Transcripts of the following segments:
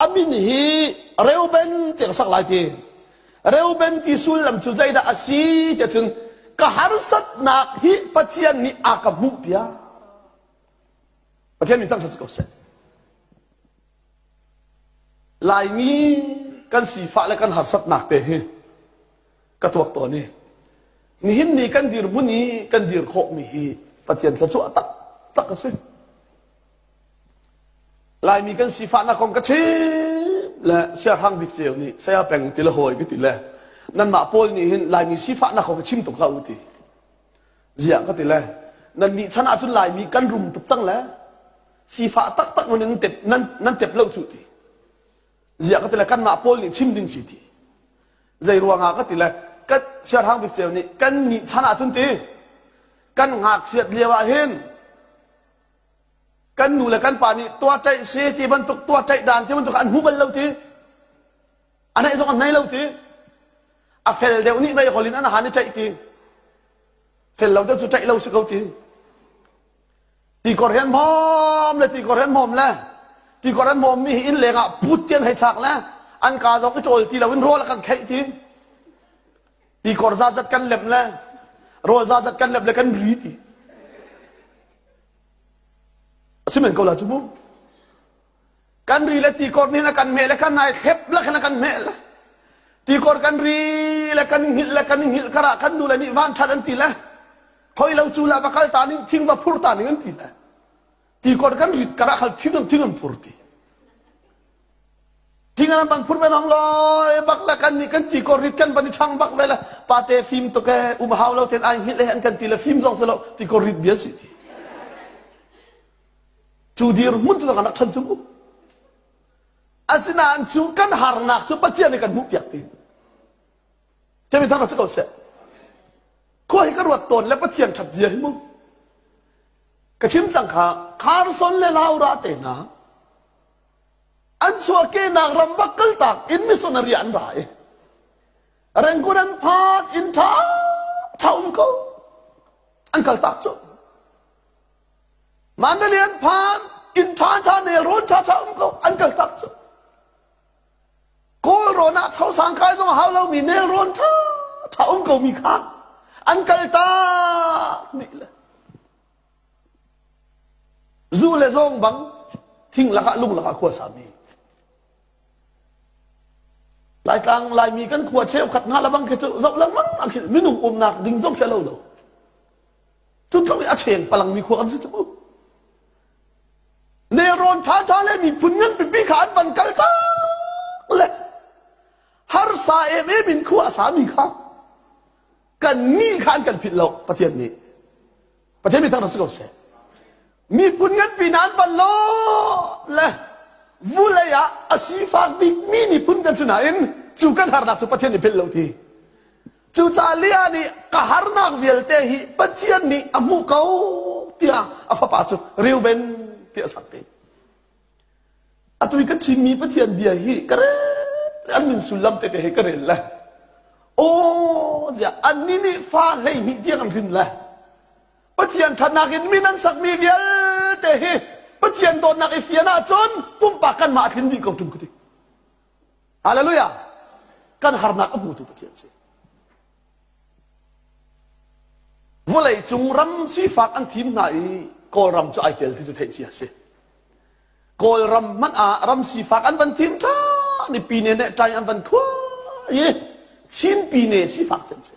a min hi reuben ti ka sak lai ti reuben ti sullam cu zeidah a si ti cun ka harsatnak hi pathian nih a ka hmuh piak pathian min cang si ko seh laimi kan sifah le kan harsatnak te hi ka tuak tawn i nihin ni kan dirhmun i kan dir khawh mi hi pathian thla cu a tak tak a si Laimi kan sifahnak kong ka chim le siarhrang bik ceu nih saya peng ti le hawi ka ti le nanmah pawl nih hin Laimi sifahnak kong ka chim tuk hlah u ti ziah ka ti le nan nih chan ahcun Laimi kan rum tuk cang le sifah taktak man nan tep nan, nan tep lo cu ti ziah ka ti le kanmah pawl nih chim ding si ti zei ruangah ka ti le kan siarhrang bik ceu nih kan nih chan ahcun ti kan ngakchiat lio ah hin kan nu le kan pa nih tuahtlaih si ti bantuk tuahtlaih dan ti bantuk an hmu bal lo ti a neih zong an nei lo ti a fel deuh nih mei holh in an han i tlaih ti fel lo deuh cu tlaih lo si ko ti ti kor hen mom le ti kor hen mom le ti kor hen mom mi hi inn leng ah put tian hei chak le an ka zong i cawl ti lo in rawl a kan kheih ti Tikor za zat kan lem le rawl za zat kan lem le kan ri ti. A si men ko la cu mu. Kan ri le tikor nih na kan meh le kan nai thlep le khan kan meh le tikor kan ri le kan hngilh le kan hngilh kara kan nu le nih van that an ti le khoi lo cu la va kal ta ning thing va phur ta ning an ti le ti kot kan rit kara khal thing thing an phur ti tingan bang phur me dong lo bak la kan ni kan ti ko rit kan van thang bak le la pate film to ke um hau lo ten ai ngil han kan ti le film zong se lo ti ko rit bia si ti chu dir mun tu kan than chu asinain chu kan harnak chu pathian kan mu piak ti Kemi thar si ko seh. Khua hi ka ruat tawn le Pathian ṭhat zia hi mu. Ka chim cang kha Kharson le Laura te hna an chuahkehnak rambak kaltak in missionary an ra i Rangoon an phat in ṭha ṭha um ko an kaltak cu Mandalay an phan in ṭha ṭha nel rawn ṭha ṭha um ko an kaltak cu Kawlrawn ah chosang kai zong a hau lomi nelrawn ṭhaṭha um komi kha an kaltak nih le zu le zawng bang thing lakah lung lakah khua sami Laitlang Laimi kan khua cheukhat nga labang khi cu zoh lengmang a khil minung umnak ding zong khi a lo lo. Cu tluk i a cheng palangmi khua kan si cu. Nelrawn ṭhaṭha le miphun ngan pipi kha an van kal tak le harsa em em in khua a sami kha kan nih kha an kan philh lo Pathian nih Pathian mi thang rak si ko seh miphun nganpi hna an van lo le vulei ah a sifak bikmi miphun kan si nain cu kan harnak cu Pathian nih philh lo ti Cucaah Leah nih ka harnak vialte hi Pathian nih a hmuh ko tiah a fapa cu Reuben ti a sak te. Atu i kan chimmi Pathian bia hi ka rel an min sullam tete he ka rel le aw ziah annih nih fa hleihnih tiang an hrin le Pathian ṭhatnak in min an sakmi vialte hi Pathian dawtnak i fian ahcun pumpak kanmah a tlin dih ko ṭung ka ti. Hallelujah! Kan harnak a hmutu Pathian si. Vawlei cung ram sifak an thim hna i Kawlram cu ai tel khi cu theih ci a si. Kawlram hmanh ah ram sifak an van thim ṭhan i pine nih ṭai an van khua i Chin pine sifak cem si.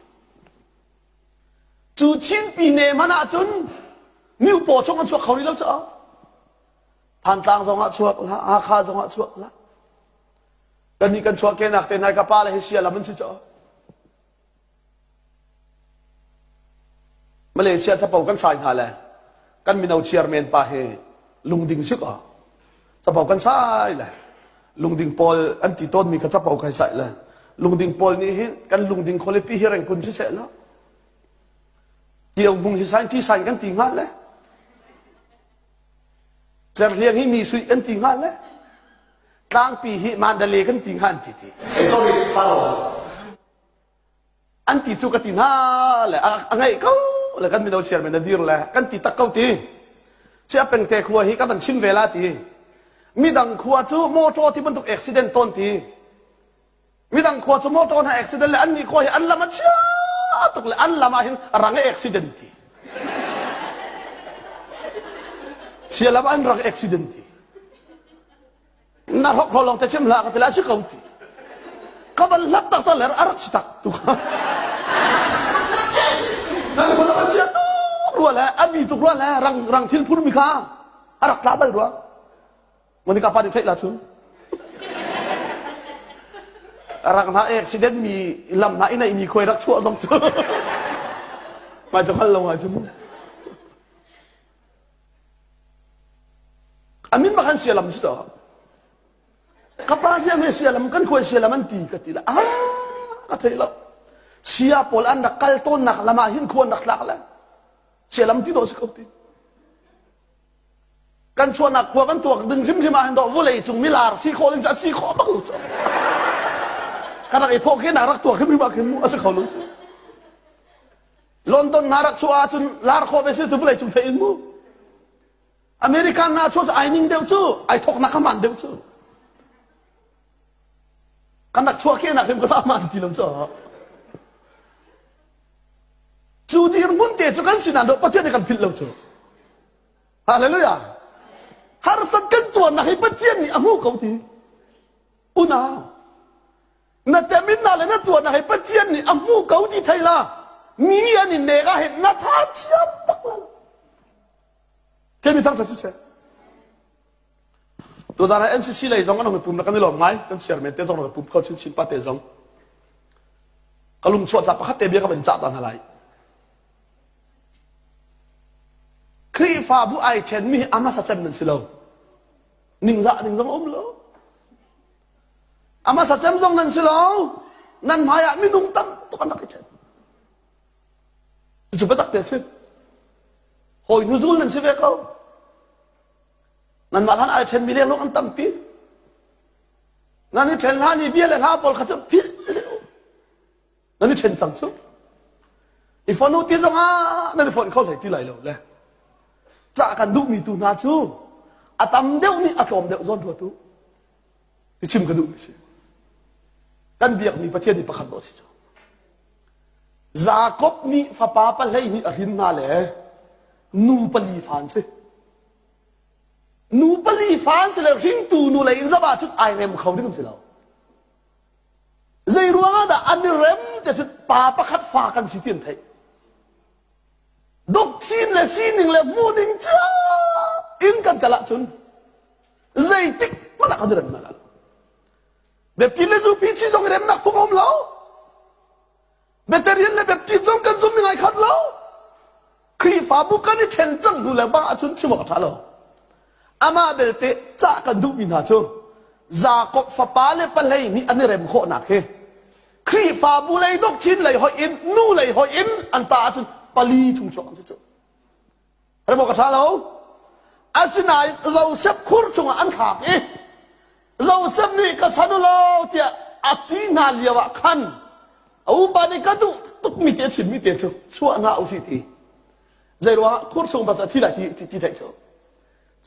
Cu Chin pine hmanh ahcun miupaw chung an chuak kho rih lo caah Thantlang zong ah chuak hlah, Hakha zong ah chuak hlah. Kannih kan chuahkenak te nai ka pa le hi sia lam an si caw. Malaysia capo kan sai hna le kan mino chairman pa hi lungding si ko. Capo kan sai le lungding pawl an ti tawnmi ka capo kai sai le lungding pawl nih hin kan lungding khualipi hi reng kun si seh lo. Tiau bung hi sign ti sign kan ti nga le Cerhliang hi mi suih an ti hnga le tlangpi hi mandale kan ti hnga an ti ti. Hey, sorry, An ti cu ka ti hna le a ngaih ko le kan mino chairman na dir le kan ti tak ko ti. Cia pengte khua hi ka van chim ve la ti. Midang khua cu motor ti bantuk accident ton ti. midang khua cu motor hna accident le annih khua hi an lam a chia tuk le an lam ah hin a rang e accident ti sia lam an rang accident ti na hrok ro long te chim hla ka tila si ko ti ka van hlat tak tak le ar chi tak tu kha nan ko lam a chia tuk rua le ami tuk rua le rang rang thil phur mi kha a rak tla bal rua Monica pa nih theih la cun. Rak hna accident mi lam hna i neihmi khuai rak chuah zong cu mai cu hngal lo ha cun. Amin bak an sia lam si to. Ka pa hi ame sia lam kan khuai sia lam an ti ka ti la. Ah ka thei lo. Sia pawl an rak kal tawnnak lam ah hin khuan rak tlak le. Sia lam ti to si ko ti. kan chuahnak khua kan tuak ding hrimhrim ah hin doh vawlei cung milar si khawh ding cu a si khawh bang cu kan rak i thawh khi na rak tuak hrimhrim ah khin mu a si kho lo si London nga rak chuah ahcun lar khawh ve si cu vawlei cung theih in mu American nga chuah ai ning deuh cu ai thoknak kha man deuh cu Kan rak chuahkehnak hrim ka fahman ti lam cu. Cu dirhmun te cu kan sinan dawh Pathian nih kan philh lo cu. Hallelujah. Harsat kan tuarnak hi Pathian nih a hmu ko ti. Unau. Na teminna le na tuarnak hi Pathian nih a hmu ko ti thei la. Mi nih an in nega he na tha chiam bak lo. Themi thang tha siseh. Tuzarah NCC lei zong an hung i pum le kan i lawm ngai. Kan chairman te zong an hung i pum kho chinchin pa te zong. Ka lungchuah ca pakhat te bia ka van cah ta hna lai. Khrihfabu ai ṭhenmi hi amasa cem nan si lo. Ningzah ning zong a um lo. Amasa cem zong nan si lo. Nan hmaiah minung tam tuk an rak i ṭhen. Cucu biatak te a si. Hawi hnuzul nan si ve ko. Nanmah hlan ai ṭhenmi liangluang an tampi. Nan i ṭhen hlan i bia le hla pawl kha cu philh nan i ṭhen cang cu. I fonu ti zongah nan i fonh kho hlei ti lai lo le cah kan duhmi tu hna cu a tam deuh nih a tlawm deuh zawn rua tu. i chim ka duh mi si kan biakmi Pathian nih pakhat dawh si cu Jakob nih fapa pa hleihnih a hrin hna le nu pali fa an si nu pali fa an si le hringtu nu lei in zam ahcun ai rem kho ding si lo zei ruangah dah an i rem te cun pa pakhat fa kan si ti an theih doctrine le sining le hmuhning cu in kan kal ahcun Zeitik hmalak an i remnak ah. Biakinn le zupi si zong i remnak phung a um lo. Biatarian le baptist zong kan zum i ngai khat lo. Khrihfabu kan i ṭhen cang hnu le bang ahcun chim awk a ṭha lo. Amah belte cah kan duhmi hna cu Jakob fapa le palei nih an i rem khawhnak hi Khrihfabu lei doctrine lei hoih in nu lei hoih in an ta ahcun pali chung chuak an si cu. Remuk a ṭha lo. Asinain Josef khur chungah an thlak i Josef nih ka chan u law tiah a ti hna lio ah khan a upa nih ka duh tukmi te chimmi te cu chuah hna u si ti zei ruangah khur chung pa cu a thi lai ti, ti, ti theih cu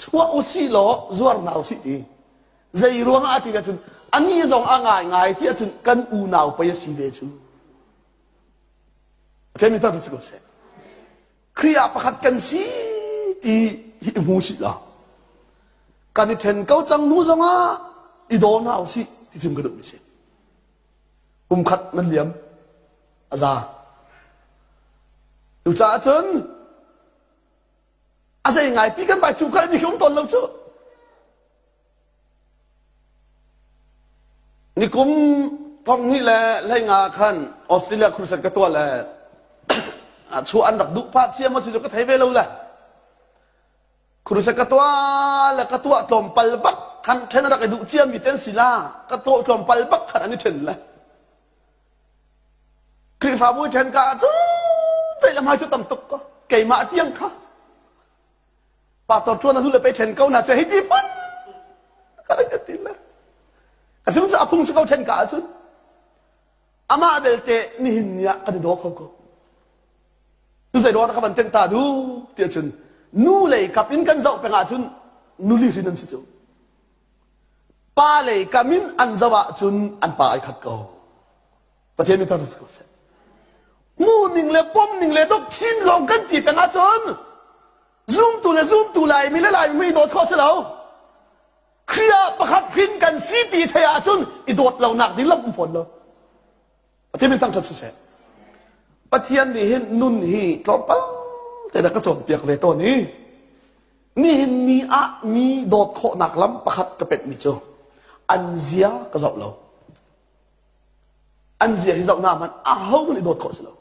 chuah u si law zuar hna u si ti zei ruangah a ti cun ani zong a ngaingai ti ahcun kan unau pei a si ve cu. Temi ta si ko seh. Khrih ah pakhat kan si ti hi i hmu sih law kan i ṭhen ko cang hnu zongah i daw hna u sih ti sim ka duhmi si. Kumkhat nan liam a za. Cucaah cun a zei ngai pi kan bai cu kai mi khi um tawn lo cu. Nikum thonghnih le hleinga ah khan Australia crusade ka tuah le chuah an rak duh pah ciam a si cu ka thei ve lo le crusade ka tuah le ka tuah tlawmpal bak khan then rak i duh ciam mi ten si la ka tuah tlawmpal bak khan an i then le Khrihfabu then ka cu ceih le ngai cu tam tuk ko keimah tiang kha Pastor ṭuan a hnu le pei ṭhen ko hna cu hei ti phun ka ka ti le ka sum cu a phung si ko ṭhen ka ahcun amah belte nihin ni ah kan i daw kho ko cu zei ruang dah ka van tengta duh tiah cun nu lei kap in kan zoh peng ahcun nuli hrin an si cu pa lei kam in an zoh ahcun an pa ai khat ko Pathian mi tar si ko seh. Mu ning le pom ning le dok chin lawng kan ti peng ahcun zumtu le zumtu lai mi le lai mi dawt kho si lo. Khrih pakhat hrin kan si ti thei ahcun i dawt lo nak ding lam um fawn lo. Pathian min thang ṭhat si seh. Pathian nih hin nun hi tlawmpal te na ka cawnpiak ve tawn i nihin ni ah mi dawt khawhnak lam pakhat ka penh mi cu an zia ka zoh lo. an zia hi zohnak hmanh ahohmanh i dawt khawh si lo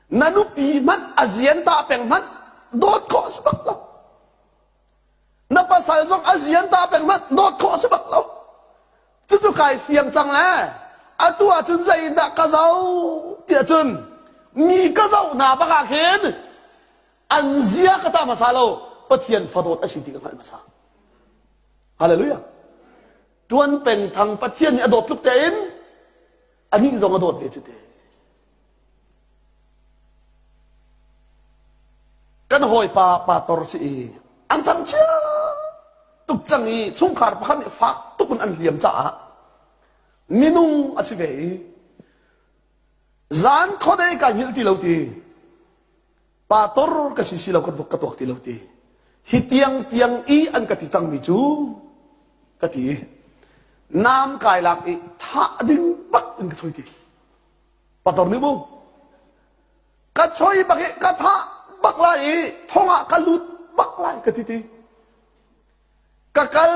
na nupi hmanh a zian ta peng hmanh dawt khawh si bak lo na pasal zong a zian ta peng hmanh dawt khawh si bak lo cucu kai fiang cang le atu ahcun zeidah ka zoh tiah cun mi ka zoh hna bak ah khin an zia ka ta hmasa lo pathian fadawt a si ti ka hngalh hmasa hallelujah Tuan peng thang Pathian nih a dawt tluk tein anih zong a dawt ve cu te. Kan hawipa pa tor si i an thangchia tuk cang i chungkhar pakhat nih fak tuk in an liam caah minung a si ve i zan khuadei ka hngilh ti lo ti pa tor ka si si lo kan vok ka tuak ti lo ti hi tiang tiang i an ka ti cangmi cu ka ti i nam kai lak i tha ding bak in ka choi ti pator ni mu ka choi bak i ka tha bak lai i thong ah ka lut bak lai ka ti ti ka kal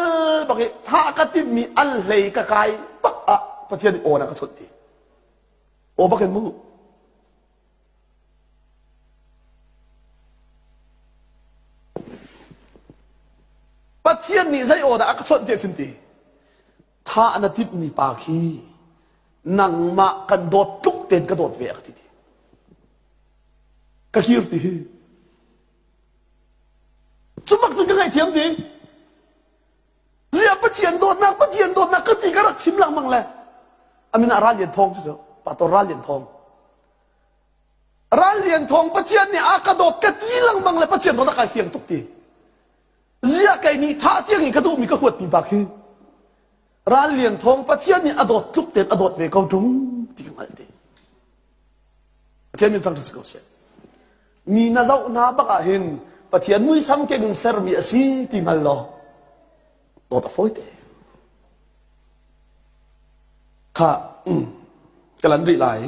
bak i tha ka timmi al hlei ka kai bak ah pathian i awna ka chawt ti o bakin mu Pathian nih zei aw dah a ka chawnh ti a chun ti? Tha na timhmi pa khi nangmah kan dawt tluk ten ka dawt ve a ka ti ti. Ka kir ti. Cu bak cun ka ngaihthiam ding. Ziah Pathian dawtnak, Pathian dawtnak ka ti ka rak chim lengmang le a min ah Ral Lian Thawng cu cu Pator Ral Lian Thawng. Ral Lian Thawng Pathian nih a ka dawt ka ti lengmang le Pathian dawt a kai fiang tuk ti. Ziah kei nih thah tiang in ka duhmi ka huatmi bak hi Ral Lian Thawng Pathian nih a dawt tluk tein a dawt ve ko ṭung ti ka hngalh ti. Pathian min thang ṭu si ko seh. mi na zoh hna bak ah hin Pathian muisam keng in sermi a si ti hngal law dawt a fawi te kha ka lan rih lai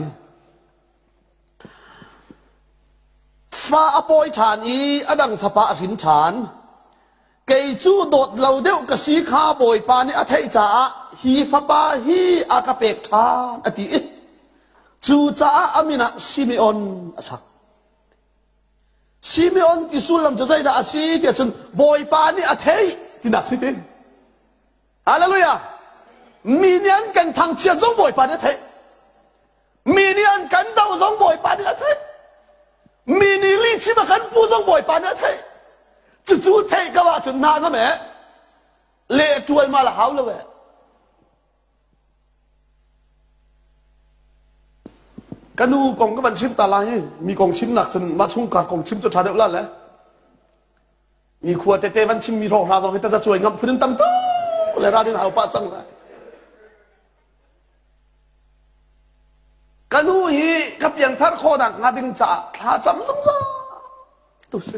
fa a pawi ṭhan i a dang fapa a hrin ṭhan kei cu dawt lo deuh ka si kha Bawipa nih a theih caah hi fapa hi a ka pek ṭhan a ti i cucaah a min ah Simeon a sak. Simeon ti sullam cu zeidah a si tiah cun Bawipa nih a theih tinak si ti. Hallelujah! Mi nih an kan thangchiat zong Bawipa nih a theih. Mi nih an kan doh zong Bawipa nih a theih. Mi nih lihchim a kan puh zong Bawipa nih a theih. Cucu theih ko ahcun hna ngam eh. Leh tualmal a hau lo eh. Ka nu kong ka van chim ta lai hi. Mi kong chim nak cun mah chungkar kong chim cu tha deuh la le. Mi khua tete van chim mi hroh hna zong hi taza cuai ngam phun in tam tuk le ra din hau pa cang la. Ka nu hi ka pianthar khawhnak hnga ding caah thlacam zungzal tu si.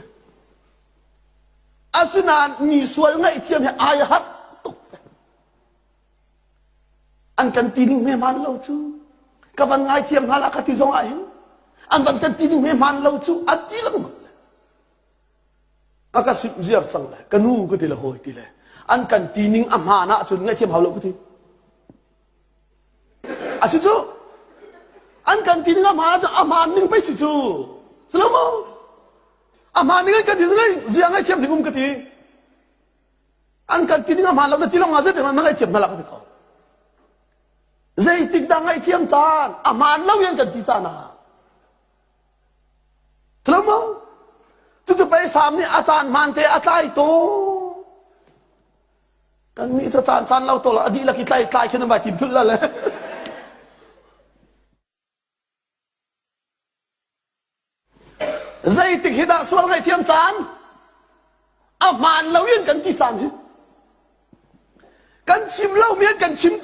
Asinain mi sual ngaihthiam hi ai harh tuk ve. An kan ti ning hmeman lo cu. Ka van ngaithiam hna la ka ti zong ah hin an van kan ti ning hmeman lo cu a ti lengmang. A ka simh ziar cang le ka nu ka ti le hawi ti le an kan ti ning a hmaan ahcun ngaihthiam hau lo ka ti. A si cu an kan ti ning a hmaan ahcun a hmaan ning pei si cu cu lo maw a hmaan ning in kan ti ning zia ngaihthiam ding um ka ti an kan ti ning a hmaan lo na ti lawngah zeitik nan ngaihthiam hna la ka ti ko zeitik dah ngaihthiam caan a hmaan lo in kan ti caan ah Tlamo cucu peisam nih a caan hmaan te a tlai to. Kan nih cu caan caan lo to la a dih lak i tlai tlai khin vai tim thulh la le. Zeitik hi dah sual ngaihthiam caan? A hmaan lo in kan ti caan hi. Kan chim lo mi kan chim te